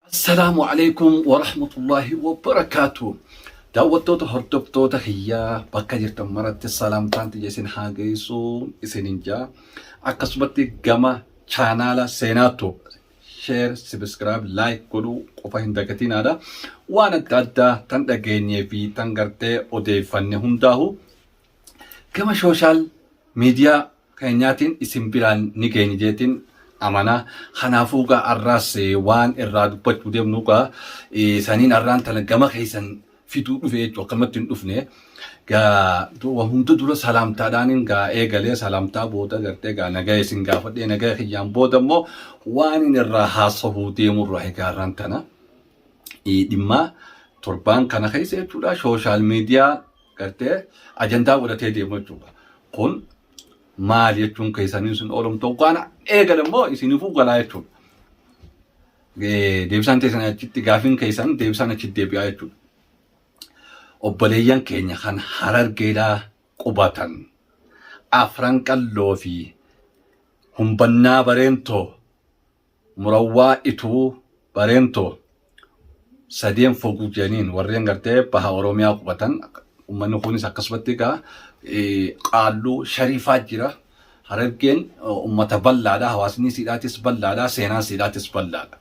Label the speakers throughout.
Speaker 1: Assalaamu alaikum warahmatullahi wabarakatuh. Daawwattoota hordoftoota kiyyaa bakka jirtan maratti salaamtaan tiyya isin haa geessu isinin jaa. Akkasumatti gama chaanaala seenaa tu share, subscribe, like godhuu qofa hin dagatinaadha. Waan adda addaa tan dhageenyee fi tan gartee odeeffanne hundaahu gama sooshaal miidiyaa keenyaatiin isin biraan ni geenye jeetiin amana. Kanaafuu gaa har'aas eh, waan irraa dubbachuu deemnu gaa eh, saniin har'aan tana gama keessan fiduu dhufe jechuudha. Akkanumatti hin dhufne. Gaa du- waa hunda dura salaamtaadhaaniin gaa eegalee salaamtaa booda gartee gaa nagaa isin gaafadhee nagaa kiyyaan booda immoo waan inni irraa haasofuu deemu irraa egaa har'aan tana. Eh, dhimma torbaan kana keessa jechuudha sooshaal miidiyaa gartee ajandaa godhatee deemu jechuudha. Kun maal jechuun keessanii isin oolum ta'u kana eegale immoo isinifuu galaa jechuudha. Deebisaan teessan achitti gaafiin keessan deebisaan achitti deebi'aa jechuudha. Obboleeyyan keenya kan harargeedhaa qubatan afran qalloo fi humbannaa bareentoo Murawwaa Ituu, Bareentoo, Sadeen Foguu jedhaniin warreen gartee baha Oromiyaa qubatan ummanni kunis akkasumatti egaa qaalluu shariifaa jira. Harargeen ummata bal'aadha. Hawaasni siidhaatis bal'aadha. Seenaan siidhaatis bal'aadha.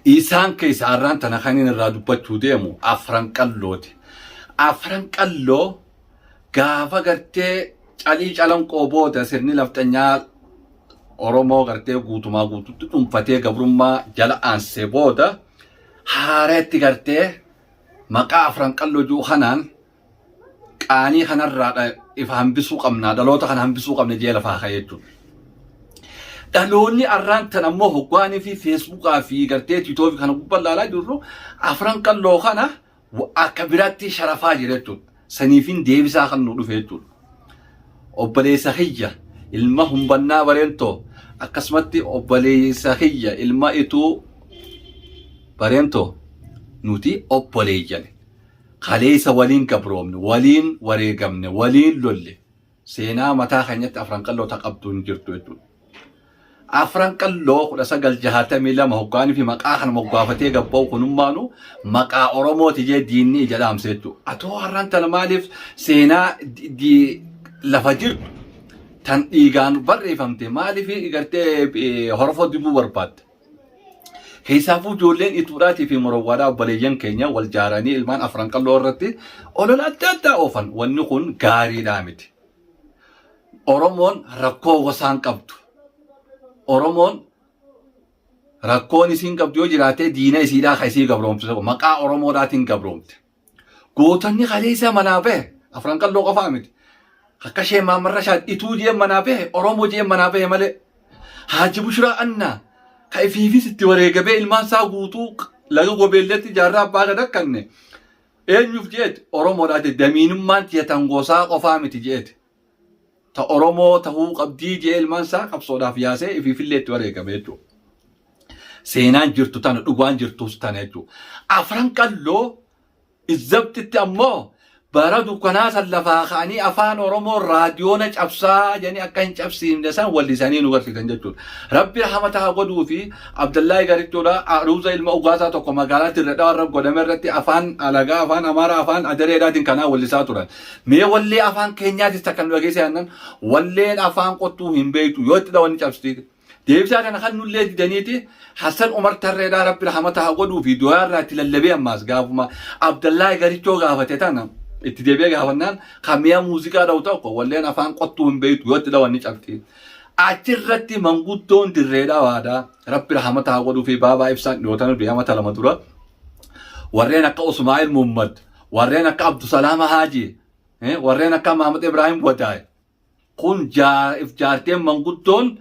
Speaker 1: Isaan keessa har'aan tana kan inni irraa dubbachuu deemu afran qallooti. Afran qalloo gaafa gartee calii calanqoo booda sirni nafxanyaa Oromoo gartee guutumaa guututti dhunfatee gabrummaa jala aansee booda haareetti gartee maqaa afran qalloo jiru kanaan qaanii kanarraa dha- ifa hambisuu qabna dhaloota kana hambisuu qabna jee lafaa ka'ee jechuudha. Dhaloonni arraan tan ammoo hoggaanii fi feesbuukaa fi gartee tiitoofi kana gubbaa ilaalaa jirru afran qalloo kana akka biraatti sharafaa jira jechuudha. Saniifin deebisaa kan nu dhufe jechuudha. Obboleessa kiyya ilma humbannaa bareentoo akkasumatti obboleessa kiyya ilma ituu bareentoo nuti obboleeyyan kaleessa waliin gabroomne waliin wareegamne waliin lolle Seenaa mataa keenyatti afran qalloo ta qabdu hin jirtu jechuudha. Afran qalloo kudha sagal jahatamii lama hoggaanii fi maqaa kana moggaafatee gabba'u kunummaanu maqaa Oromooti jee diinni ija dhaamse jechuudha. Atoo har'an tana maaliif seenaa di- di- lafa jirtu tan dhiigaan barreeffamte maaliif gartee eh, horofoo dibuu barbaadda? Keessaafuu ijoolleen Ituudhaatii fi Morowwaadhaa obboleeyyan keenya wal jaaranii ilmaan afran qalloo irratti olola adda addaa oofan. Wanni kun gaariidhaa miti. Oromoon rakkoo gosaan qabdu. Oromoon rakkoon isiin qabdu yoo jiraatee diina isiidhaa kan isii gabroomsisu maqaa Oromoodhaatiin gabroomte. Gootonni kaleessaa manaa bahe afran qalloo qofaa miti. Akka ishee Maamman Rashaad ituu jeen manaa bahe Oromoo jeen manaa bahe malee. Haaji Bushiraa Annaa ka ifiifis itti wareegamee ilmaan isaa guutuu laga gobeelleetti jaarraa abbaa gad akkanne eenyuuf jeeti Oromoodhaa jeeti damiinummaan tiyya tan gosaa qofaa miti jeeti. ta Oromoo tahuu qabdii jee ilmaan isaa qabsoodhaaf yaasee ifiifillee itti wareegame jechuudha. Seenaan jirtu tana dhugaan jirtus tana jechuudha. Afran qalloo izzabtitti ammoo bara dukkanaa san lafaa ka'anii afaan Oromoo raadiyoona cabsaa jedhanii akka hin cabsiifne san wallisanii nu barsiisan jechuudha. Rabbi rahmata haa godhuu fi Abdallahi Garichuudha Aruuza ilma Ugaasaa tokko magaalaa Dirredhaa warra godhame irratti afaan alagaa afaan Amaaraa afaan Adareedhaatiin kanaa wallisaa turan. Mee wallee afaan keenyaatis takka nu dhageessa yaannan walleen afaan qottuu hin beektu yoo itti dhawanni cabsitiiti. Deebisaa kana kan nullee didaniiti Hassan Umar Tarreedhaa Rabbi rahamata haa godhuu fi du'aa irraa itti lallabee ammaas gaafuma Abdallaay Garichoo gaafate tana itti deebi'ee gaafannaan kan mi'a muuziqaa dha'u tokko walleen afaan qottuu hin beektu yoo itti dhawanni cabsiti. Achirratti manguddoon dirreedhaa waadaa Rabbi rahamata haa godhuu fi baabaa ibsaan dhiyootana du'ee amata lama dura warreen akka Usmaa'il Muhammad Warreen akka Abdusalaama Haaji, eh, warreen akka Maamad Ibraahim Wadaay. Kun jaa- if jaarteen manguddoon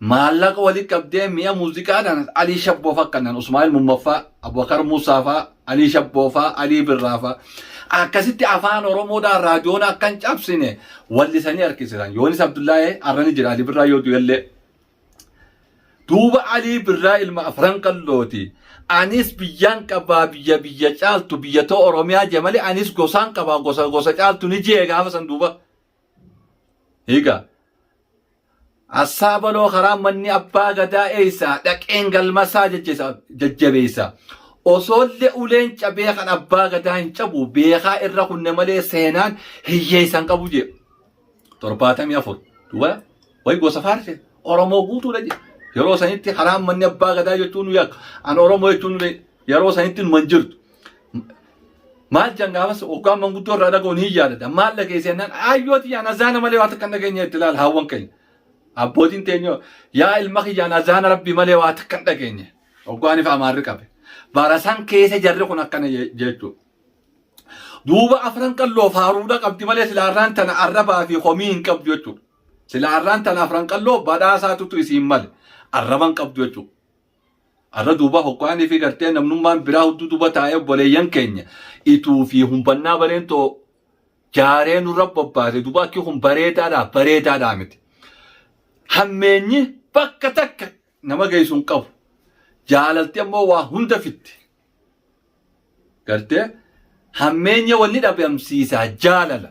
Speaker 1: maallaqa walitti qabdee mi'a muuziqaadhaan Alii Shabboo fa'aa kanneen Usmaa'il Mummaffaa, Abubakar Muusaa fa'aa, Alii Shabboo fa'aa, Alii Birraa fa'aa. Akkasitti afaan Oromoodhaan raadiyoon akka hin cabsine wallisanii harkisisan. Yoonis Abdullaahee har'a ni jira Alii Birraa yoo du'ellee. Duuba Alii Birraa ilma afran qallooti. Anis biyyaan qabaa biyya biyya caaltu biyya too Oromiyaa jee malee anis gosaan qabaa gosa gosa caaltu ni jee gaafa san duuba. Higa. Assaa baloo karaa manni abbaa gadaa eeysaa dhaqeen galmasaa jajjesa- jajjabeeysa. Osoolle uleen cabee kan abbaa gadaa hin cabu beekaa irra kunne malee seenaan hiyyeeysan qabu jee. torbaatamii afur duwwaa wayi gosa faarse Oromoo guutuudha jedhe. Yeroo sanitti karaan manni abbaa gadaa jechuun nu yakka. An Oromoo jechuun nu yeroo sanitti nu man jirtu. Maal jan gaafas hoggaan manguddoo irraa dhaga'u ni yaadata. Maal dhageesse jennaan ayyoo tiyyaan azaana malee waan takka hin dhageenye itti ilaala hawwan keenya. Abbootiin teenyoo yaa ilma kiyyaan azaana rabbii malee waan takka hin dhageenye. Hoggaan ifa amaarri qabe. Barasan keessa jarri kun akkana jechuu. Duuba afran qalloo faaruudha qabdi malee sila arraan tana arrabaa fi komii hin qabdu jechuudha. Sila arraan tana afran qalloo badhaasaatutu isiin male arraban qabdu jechuudha. Arra duuba hokkaanii fi gartee namnummaan biraa hudduu duuba taa'ee obboleeyyan keenya ituu fi humbannaa bareen too jaaree nurra bobbaase duuba akki kun bareedaadhaa bareedaadhaa miti. Hammeenyi bakka takka nama geessu hin qabu. Jaalalti ammoo waa hunda fitti. Galtee hammeenya wanni dhabamsiisaa jaalala.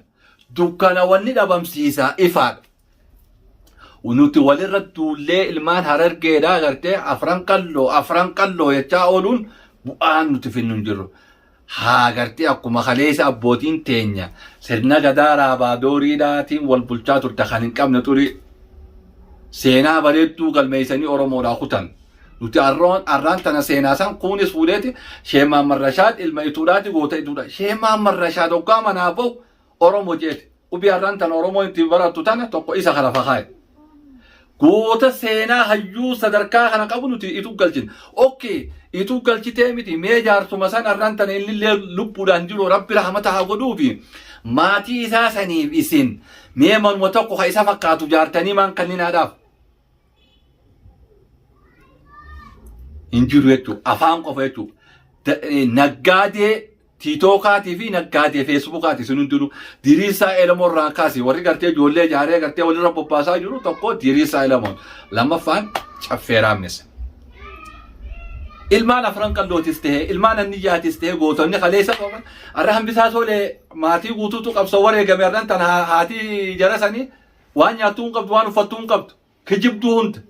Speaker 1: Dukkana wanni dhabamsiisaa ifaadha. Nuti walirra duullee ilmaan harargeedhaa gartee afran qalloo afran qalloo jechaa ooluun bu'aan nuti finnu hin jirru. haa agartee akkuma kaleessa abbootiin teenya sirna gadaa raabaa dooriidhaatiin wal bulchaa turte kan hin qabne xurii seenaa bareedduu galmeessanii oromoodhaa kutan nuti arroon arraan tana seenaa san kuunis fuudheeti sheemaan marrashaad ilma ituudhaati goota ituudha sheemaan marrashaad hoggaa manaa ba'u Oromo jeete. Qubi har'an tana Oromoon ittiin barattu tana tokko isa kana fakaaye. Goota seenaa hayyuu sadarkaa kana qabu nuti ituu galchina. Okkee ituu galchitee miti mee jaarsuma san har'an tana inni illee lubbuudhaan jiru rabbi rahmata haa godhuufi maatii isaa saniif isin mee manuma tokko ka isa fakkaatu jaartanii maan kanninaadhaaf. hin jiru jechuudha. Afaan qofa jechuudha. Da- eh, Naggaadee tiitookaatii fi naggaadee feesbuukaati isin hundinuu diriirsaa elemoo irraa kaasi warri gartee ijoollee ijaaree gartee walirra bobbaasaa jiru tokko diriirsaa elemoon lammaffaan caffee raamnisa. Ilmaan afran qallootis ta'e ilmaan anniyyaatis ta'e gootonni kaleessa qaban har'a hambisaa tole maatii guutuutu qabsoo wareegame har'an tan haa- haatii jara sanii Waan nyaattuu hin qabdu, waan uffattuu hin qabdu. Kijibduu hunda.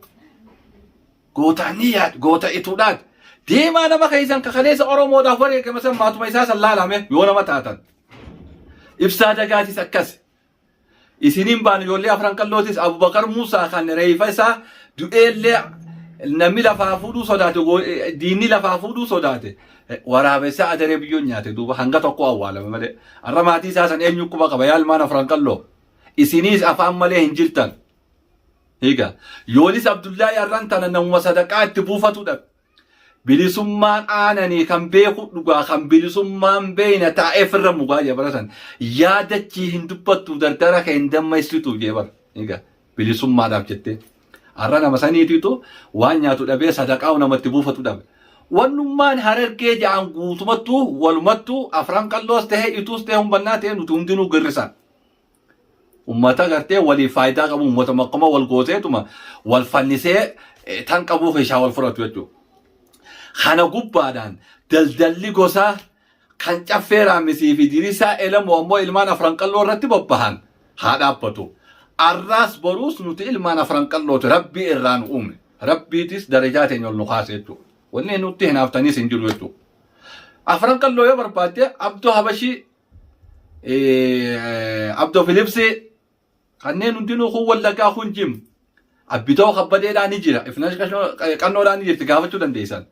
Speaker 1: Gootaan ni yaad, goota ituudhaat. Deemaa nama keessan kakaleessa Oromoodhaaf wareegama san maatuma isaa san laalame yoo nama taatan. Ibsaa dagaatis akkas. Isiniin baan ijoollee afran qallootis Abubakar Muusaa kan reefa isaa du'eellee namni lafaa fuudhuu sodaate goo- eh, diinni lafaa fuudhuu sodaate Eh, waraabessa adaree biyyoon nyaate duuba hanga tokko awwaalame malee har'a maatii isaa san eenyu quba qaba yaalmaan afran qalloo isiniis afaan malee hin jirtan higa yoonis abdullaahi arran tana namuma sadaqaa itti buufatudha bilisummaan aananii kan beeku dhugaa kan bilisummaan beeyna taa'eef irra mugaa jebaratan yaadachii hin dubbattu dardara kee hin dammaysitu jebar higa bilisummaadhaaf jettee arra nama saniitiitu waan nyaatu dhabee sadaqaa namatti buufatu dhabe wannummaan harargee ja'an guutumattuu walumattuu afran qalloos ta'e ituus ta'e humbannaa ta'e nuti hundinuu girrisaa ummata gartee waliif faayidaa qabu ummata makkuma wal gooteetuma wal fannisee eh, tan qabuu keessaa wal fudhatu jechuudha. Kana gubbaadhaan daldalli gosaa kan caffee raammisii fi dirisaa elamoo ammoo ilmaan afran qalloo irratti bobbahan haa dhaabbatu. Arraas boruus nuti ilmaan afran qallooti rabbii irraa nu uume. Rabbiitis darajaa teenya ol nu kaase jechuudha. Wanni nutti hinaaftaniis hin jiru jechuudha. Afran qalloo yoo barbaadde abdoo habashii Abdoo Filipsii kanneen hundinuu kun wallaggaa kun jim abbitoo kabbadeedhaa ni jira ifnash qannoodhaa ni jirti gaafachuu dandeessan.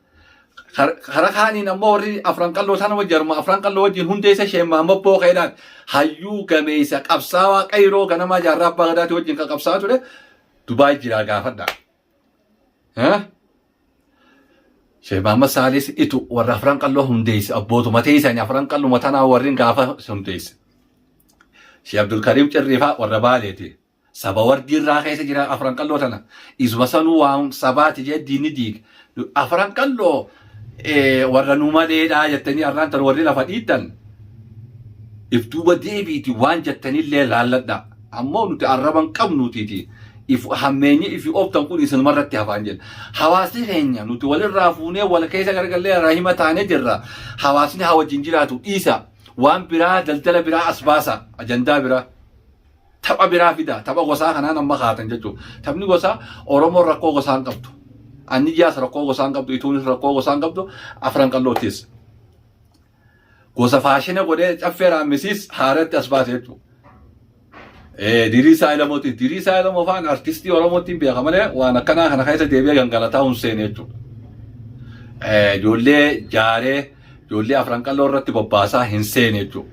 Speaker 1: Karaa kaaniin ammoo warri afran qalloo sana wajjin harma afran qalloo wajjin hundeessa isheen Mahammad Bookeedhaan hayyuu gameessa qabsaawaa qayroo ganamaa jaarraa abbaa gadaatii wajjin kan qabsaa ture Dubaay jiraa gaafadhaa. Sheekh Mahammad Saalis itu warra afran qalloo hundeesse abbootuma teessani afran qalluma tanaa warrin gaafa hundeesse. Sheekh Abdulkariim Cirriifaa warra baaleeti. Saba wardii irraa keessa jira afran qalloo tana. Isuma sanuu waan sabaati jee diinni diige. Afran qalloo warra nu maleedhaa jettanii arraan tan warri lafa dhiittan if duuba deebiiti waan jettanillee laalladha ammoo nuti arraban qabnuutiiti if hammeenyi ifi ooftan kun isinuma irratti hafaan jenna hawaasni keenya nuti walirraa fuunee wal keessa gargallee rahima taanee jirra hawaasni haa wajjin jiraatu dhiisa waan biraa daldala biraa as baasa ajandaa biraa Tapha biraa fidaa. Tapha gosaa kanaan amma kaatan jechuudha. Taphni gosaa Oromoon rakkoo gosaa hin qabdu. Anniyyaas rakkoo gosaa hin qabdu. Ituunis rakkoo gosaa hin qabdu. Afran qalloottis. Gosa faashina godhee caffee raamisiis haaratti as baase jechuudha. Diriisaa Ilamooti. Diriisaa Ilamoo fa'aan artistii Oromootiin beeka malee waan akkanaa kana keessa deebi'ee gangalataa hin seene jechuudha. Ijoollee jaaree Ijoollee afran qalloo irratti bobbaasaa hin seene jechuudha.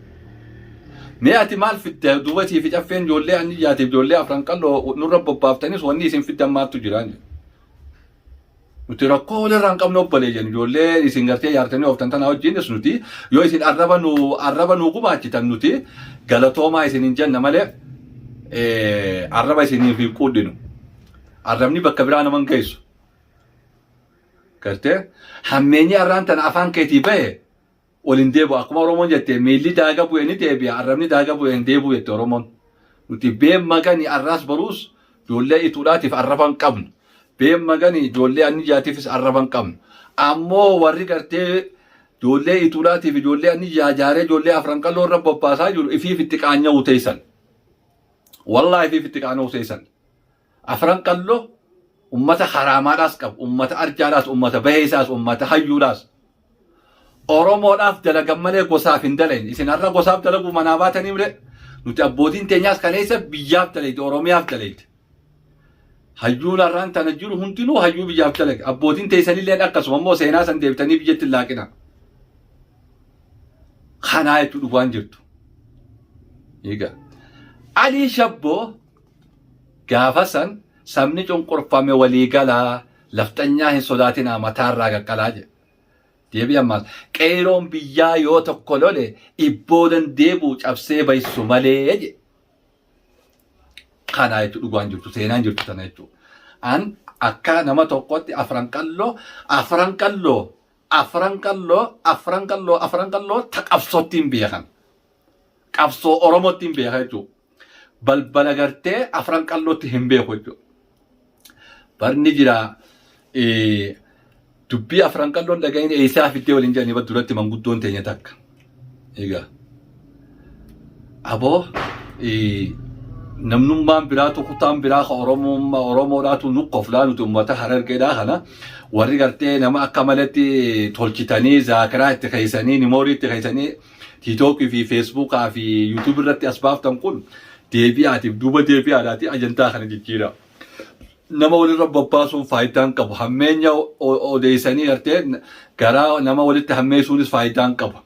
Speaker 1: Mee ati maal fidda duubatii fi caffeen ijoollee anni jaatiif ijoollee afran qalloo nurra bobbaaftanis wanni isin fiddan maattu jiraan. Nuti rakkoo walirraa hin qabne obboleeyyan ijoollee isin gartee yaartanii ooftan tanaa wajjinis nuti yoo isin arraba nu arraba nu gumaachitan nuti galatoomaa isin hin jenna malee arraba isiniif hin quudhinu. Arrabni bakka biraa nama hin geessu. Gartee hammeenyi arraan tana afaan keetii bahe ol hin deebi'u. Akkuma Oromoon jette miilli daaga bu'e ni deebi'a, arrabni daaga bu'e hin deebi'u jette Oromoon. Nuti been magani arraas boruus ijoollee ituudhaatiif arraba hin qabnu. Been magani ijoollee anniyyaatiifis arraba hin qabnu. Ammoo warri gartee ijoollee ituudhaatiif ijoollee anniyyaa jaaree ijoollee afran qal'oo irra bobbaasaa jiru ifiif itti qaanya'uu teessan. Wallaahi ifiif itti qaana'uu teessan. Afran Qalloo ummata Haraamaadhaas qabu, ummata Arjaadhaas, ummata Baheesaas, ummata Hayyuudhaas. Oromoodhaaf dalagan malee gosaaf hin dalayne. Isin har'a gosaaf dalaguuf manaa baatanii malee nuti abbootiin teenyaas kaleessa biyyaaf dalayde, Oromiyaaf dalayde. Hayyuun har'aan tana jiru hundinuu hayyuu biyyaaf dalage. Abbootiin teessanillee akkasuma immoo seenaa san deebitanii biyyatti hin laaqina. Kanaa jechuun dhugaan jirtu. Egaa Alii Shabboo Gaafa san sabni cunqurfame walii galaa, lafxanyaa hin sodaatinaa mataa irraa qaqqalaa jedhe. Deebii ammaas qeeyroon biyyaa yoo tokko lole ibboodan deebi'u cabsee baysu malee jedhe. Kanaa jechuun dhugaan jirtu seenaan jirtu sana jechuudha. An akka nama tokkotti afran qalloo afran qalloo Afran Qalloo, Afran Qalloo, Afran Qalloo ta qabsottiin beekan. Qabsoo Oromottiin beeka jechuudha. Balbala gartee Afran Qallootti hin beeku jechuudha. Barni jira dubbii Afran Qalloon dhaga'iin eessaa fiddee waliin jedhanii duratti manguddoon teenya takka. Egaa aboo eh, namnummaan biraatu kutaan biraa ka Oromummaa Oromoodhaatu nu koflaa nuti uummata harargeedhaa kana warri gartee nama akka maletti tolchitanii zaakiraa itti keessanii nimoorii itti keessanii tiitookii fi feesbuukaa fi yuutuubii irratti as baaftan kun deebi'aatiif duuba deebi'aadhaati ajandaa kana jijjiiraa. nama walirra bobbaasuun faayidaa hin qabu. Hammeenya odeessanii gartee garaa nama walitti hammeessuunis faayidaa hin qabu.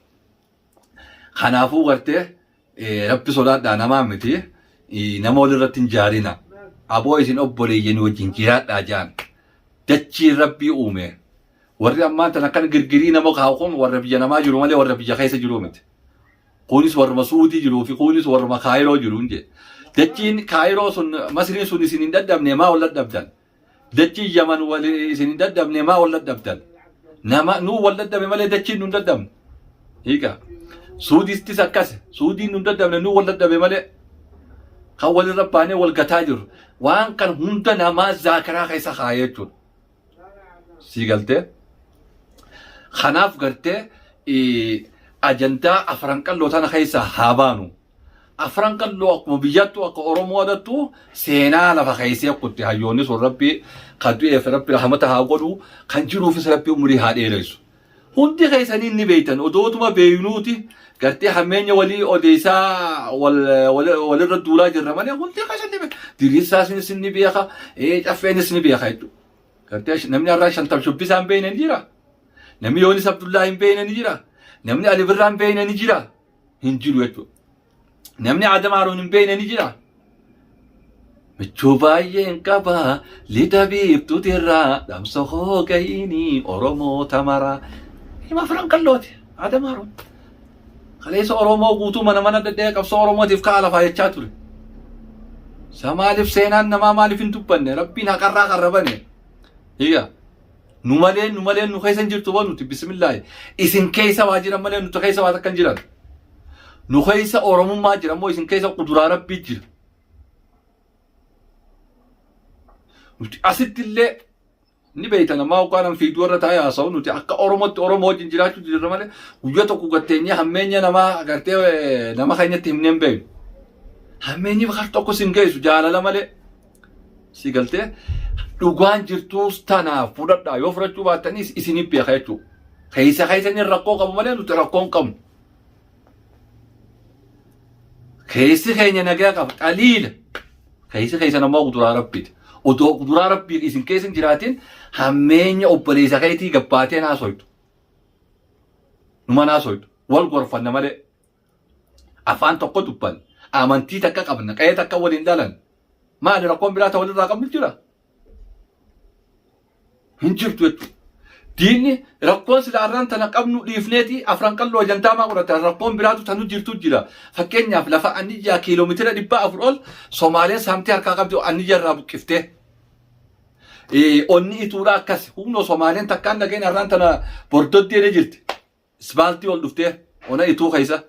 Speaker 1: Kanaafuu gartee rabbi sodaadhaa namaa miti nama walirratti hin jaarina. Aboo isin obboleeyyanii wajjin jiraadhaa jaan. Dachiin rabbii uume. Warri ammaan tana kan girgirii nama kaa'u kun warra biyya namaa jiru malee warra biyya keessa jiru miti. kuunis warruma suudii jiruu fi kuunis warruma kaayiroo jiruun jedhe dachiin kaayiroo sun masriin sun isin hin dadhabne maa ol dadhabdan dachiin yaman wal isin hin dadhabne maa ol dadhabdan nama nuu wal dadhabe malee dachiin nun dadhabne hiika suudistis akkas suudiin nun dadhabne nuu wal dadhabe malee kan walirra baanee wal gataa jirru waan kan hunda namaa zaakaraa keessa kaa'ee jechuudha. sii galtee kanaaf gartee eh, ajandaa afran qalloo tana keessaa haa baanu afran qalloo akkuma biyyaattu akka oromoo adattu seenaa lafa keessee kutte hayyoonni sun rabbi kan du'eef rabbi rahmata haa godhu kan jiruufis rabbi umurii haa dheeressu Hundi keessanii ni beeytan odootuma beeynuuti gartee hammeenya walii odeessaa wal- wal- walirra duulaa jirra malee hundi keessan ni beeka. Diriirsaasinis ni beeka, eh, caffeenis ni beeka jechuudha. Gartee sh- namni har'aa shantam shubbisaa hin beeyne ni jira. Namni Yoonis Abdullaa hin beeyne ni jira. Namni Ali Birraa hin beeyne ni jira. Hin jiru jechuudha. Namni Aadam Haaruun hin beekne ni jira. Michuu baay'een qaba lixa biiftuuti irraa dhamsa hoo gahiini Oromoo tamaraa. Hima firan qallooti Aadam Haaruun. Kaleessa Oromoo guutuu mana mana dadhee qabsoo Oromootiif ka'a lafaa jechaa ture. Isa maaliif seenaan namaa maaliif hin dubbanne rabbiin haqarraa qarrabane. Iyyaa. Nu malee nu malee nu keessa hin jirtu boo nuti bismillaahi. Isin keessa waa jiran malee nuti keessa waa takka hin jiran. Nu keessa Oromummaa jira moo isin keessa quduraa rabbii jira. Nuti asitti illee ni beektan ammaa hoggaanaan fiiduu irra taa'ee haasa'u nuti akka Oromootti Oromoo wajjin jiraachuu jirra malee guyyaa tokko gatteenyee hammeenya namaa agartee eh, nama keenyatti himnee hin beeknu. Hammeenyi bakar tokko sin geessu jaalala malee. Si galtee dhugaan jirtuus tanaaf fudhadhaa yoo fudhachuu baattaniis isiniif beeka jechuudha. Keessa keessaniin rakkoo qabu malee nuti rakkoo hin qabnu. Keessi keenya nagaa qaba xaliila. Keessi keessan ammoo kuduraa rabbiiti. Otoo kuduraa rabbii isin keessa hin jiraatin hammeenya obboleessa keetii gabbaatee naasoytu. Numa naasoytu. Wal gorfanna malee. Afaan tokko dubbanna. Amantii takka qabna. Qa'ee takka waliin dhalan. Maali rakkoon biraa ta walirraa qabnu jira? Hin jirtu jechuudha. Diinni rakkoon sila arraan tana qabnu dhiifneeti afran qalloo ajantaa maa godhata rakkoon biraatu tanu jirtu jira. Fakkeenyaaf lafa anniyyaa kiiloomeetira dhibba afur ol Somaaleen saamtee harkaa qabdi anniyyaa irraa buqqiftee. onni ituudha akkas humna Somaaleen takkaan dhageen arraan tana bordoddee jirti. Isbaaltii ol dhuftee ona ituu keessa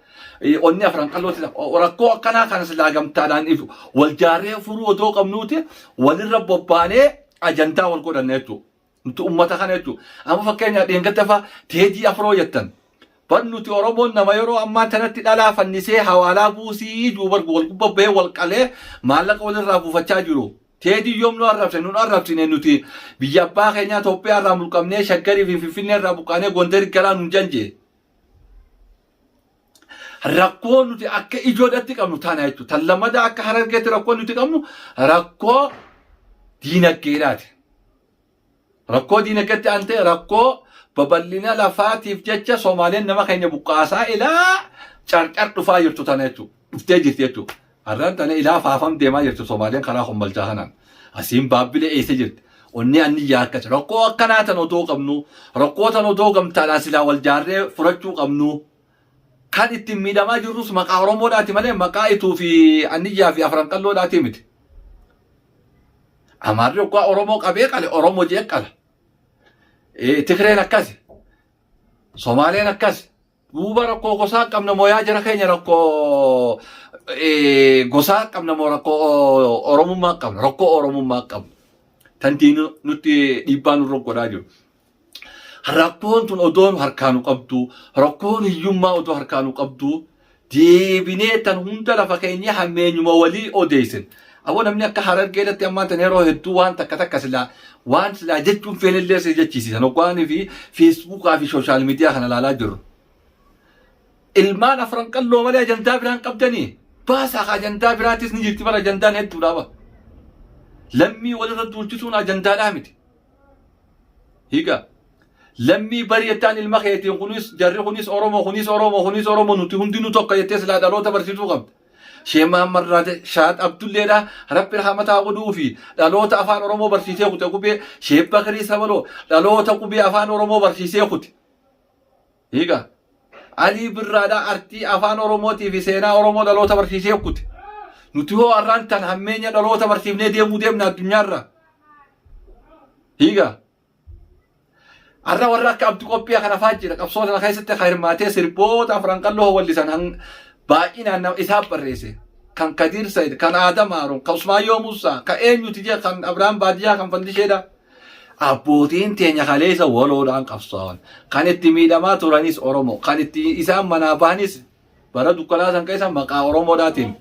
Speaker 1: onni afran qallooti rakkoo akkanaa kanas laagamtaadhaan ifu wal jaarree furuu otoo qabnuuti walirra bobbaanee ajandaa wal godhanna jechuudha. Nuti uummata kana jechuudha. Amma fakkeenyaa dheengadda fa'aa teedii afroo jettan. Bar nuti Oromoon nama yeroo ammaa tanatti dhalaa fannisee hawaalaa buusii duubar wal gubba bahee wal qalee maallaqa walirraa buufachaa jiru. Teedii yoom nu arrabse nun arrabsine nuti biyya abbaa keenyaa Itoophiyaa irraa mulqamnee shaggarii fi finfinnee irraa buqqaanee Gondar galaa nun janje. Rakkoo nuti akka ijoodhatti qabnu taana jechuudha. Tan lammadaa akka harargeetti rakkoo nuti qabnu rakkoo diinaggeedhaati. Rakkoo diinagatti aantee rakkoo babal'ina lafaatiif jecha Soomaaliyaan nama keenya buqqaasaa ilaa carcar dhufaa jirtu tana jechuudha. Dhuftee jirti jechuudha. Har'aan tana ilaa faafam deemaa jirtu Soomaaliyaan karaa kombalchaa kanaan. Asiin baabbilee eessa jirti. Onnee anniyyaa akkas. Rakkoo akkanaa tan odoo qabnu rakkoo tan odoo gamtaadhaan silaa wal jaarree furachuu qabnu. Kan ittiin miidhamaa jirrus maqaa Oromoodhaati malee maqaa Ituu fi Anniyyaa fi Afran Qalloodhaati miti. Amaarri oggaa Oromoo qabee qale Oromoo jee qala. Eh, Tigreen akkasi. Somaaleen akkasi. Duuba rakkoo gosaa qabna moo yaa jara keenya rakkoo eh, gosaa qabna moo rakkoo o- Oromummaa qabna rakkoo Oromummaa qabna. Tantiin nutti dhiibbaa nurra godhaa jiru. rakkoon tun odoo nu harkaa nu qabdu rakkoon hiyyummaa odoo harkaa nu qabdu deebinee tan hunda lafa keenya hammeenyuma walii odeessin aboo namni akka harargee irratti ammaan tan yeroo hedduu waan takka takka silaa waan silaa jechuun feenillee si jechiisisan hoggaanii fi feesbuukaa fi sooshaal miidiyaa kana ilaalaa jirru. Ilmaan afran qalloo malee ajandaa biraan qabdanii baasaa ka ajandaa biraatis ni jirti bara ajandaan hedduudhaaba. Lammii walirra duulchisuun ajandaadhaa miti. Higa. Lammii bari jettaan ilma keetiin kunis jarri kunis Oromoo kunis Oromoo kunis Oromoo nuti hundinuu tokko jettee silaa dhaloota barsiisuu qabda. Shee Mahammad Raate Shaad Abdulleedha Rabbi rahamataa godhuu fi dhaloota afaan Oromoo barsiisee kute qubee Shee Bakrii Sabaloo dhaloota qubee afaan Oromoo barsiisee kute. Hiika. Alii Birraadhaa artii afaan Oromootii fi seenaa Oromoo dhaloota barsiisee okkute. Nuti hoo arraan tan hammeenya dhaloota barsiifnee deemuu deemna addunyaarra. Hiika. Arra warra akka Abdu Qophii kana faa jira qabsoo tana keessatti kan hirmaatee sirboota afran qalloo hawallisan hang- baay'inaan nama isaaf barreesse. Kan Kadiir Sayid, kan Aadam Haaruun, kan Usmaayyoo Musaa, kan eenyuti jee kan Abrahaam Baadiyyaa kan Fandisheedha. Abbootiin teenya kaleessa waloodhaan qabsaawan. Kan itti miidhamaa turanis Oromoo. Kan itti isaan manaa bahanis bara dukkanaa san keessa maqaa Oromoodhaatiin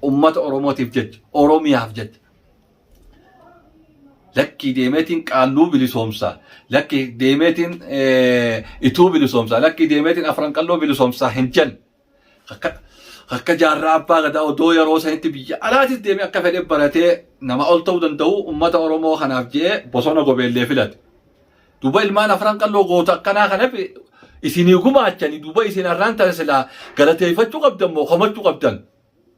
Speaker 1: ummata Oromootiif jecha, Oromiyaaf jecha. Lakkii deemeetiin qaalluu bilisoomsaa, lakkii deemeetiin ituu bilisoomsaa, lakkii deemeetiin afran qalloo bilisoomsaa hin jenne. Akka akka jaarraa abbaa gadaa odoo yeroo sanitti biyya alaatis deemee akka fedhe baratee nama ol ta'uu danda'u uummata Oromoo kanaaf je'ee bosona gobeellee filate. Duuba ilmaan afran qalloo goota akkanaa kanaf isinii gumaachanii duuba isin har'aan tana silaa galateeffachuu qabdan moo komachuu qabdan?